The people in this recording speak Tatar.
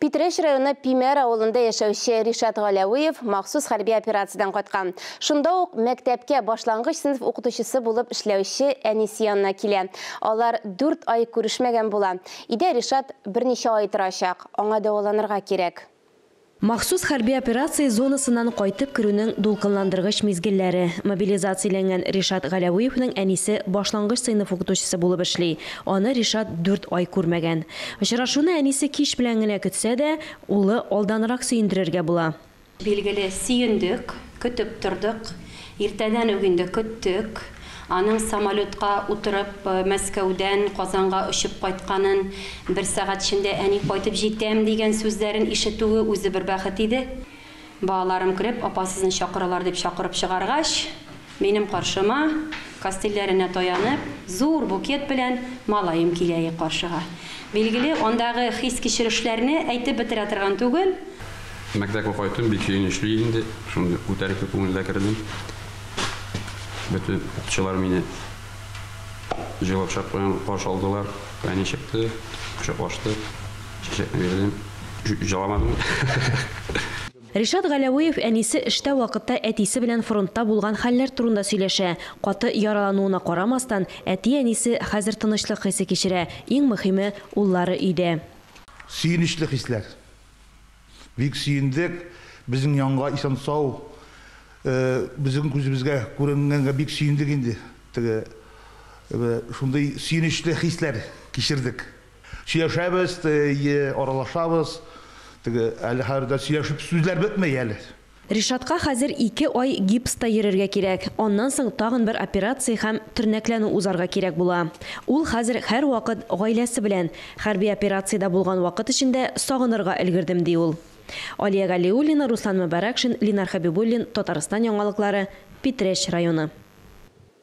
Питрәч районы Пимәр авылында яшәүче Ришат Галәвиев махсус хәрби операциядән кайткан. Шунда ук мәктәпкә башлангыч сыйныф укытучысы булып эшләүче әнисе янына килә. Алар дүрт ай күрешмәгән була. Өйдә Ришат берничә ай торачак. Аңа дәваланырга кирәк. Махсус хәрби операция зонасыннан кайтып керүнең дулкынландыргыч мизгелләре. Мобилизацияләнгән Ришат Галәвиевнең әнисе башлангыч сыйныф укытучысы булып эшли. Аны Ришат дүрт ай күрмәгән. Очрашуны әнисе кич белән генә көтсә дә, улы алданрак сөендерергә була. Билгеле, сөендек, көтеп тордык. Иртәдән үк инде көттек. Аның самолетка утырып Мәскәүдән Казанга очып кайтканын, бер сәгать эчендә әни кайтып җитәм, дигән сүзләрен ишетүе үзе бер бәхет иде. Балаларым кереп, Апа, сезне чакыралар, дип чакырып чыгаргач, минем каршыма, кастильләренә таянып, зур букет белән малаем килә и каршыга. Билгеле, андагы хис-кичерешләрне әйтеп бетерә торган түгел. Мәктәпкә кайтуым бик сөенечле инде, шундый күтәренке күңелдә кердем. Бөтен укытучылар мине җылы кочак белән каршы алдылар. Әни чыкты, кочаклаштык. Чәчәкләрен җыламадым. Ришат Галәвиев әнисе эштә вакытта әтисе белән фронтта булган хәлләр турында сөйләшә. Каты яралануына карамастан, әти-әнисе хәзер тынычлык хисе кичерә, иң мөхиме, уллары өйдә. Сөенечле хисләр. Бик сөендек, безнең янга исән-сау, безнең күзебезгә күренгәнгә бик сөендек инде. Теге, шундый сөенечле хисләр кичердек. Сөйләшәбез, әйе, аралашабыз. Теге, әле хәзер дә сөйләшеп, сүзләр бетмәй әле. Ришатка хәзер ике ай гипста йөрергә кирәк, аннан соң тагын бер операция һәм тернәкләнү узарга кирәк була. Ул хәзер һәрвакыт гаиләсе белән, хәрби операциядә булган вакыт эчендә сагынырга өлгердем, ди ул. Алия Галиуллина, Руслан Мөбарәкшин, Линар Хәбибуллин, Татарстан яңалыклары, Питрәч районы.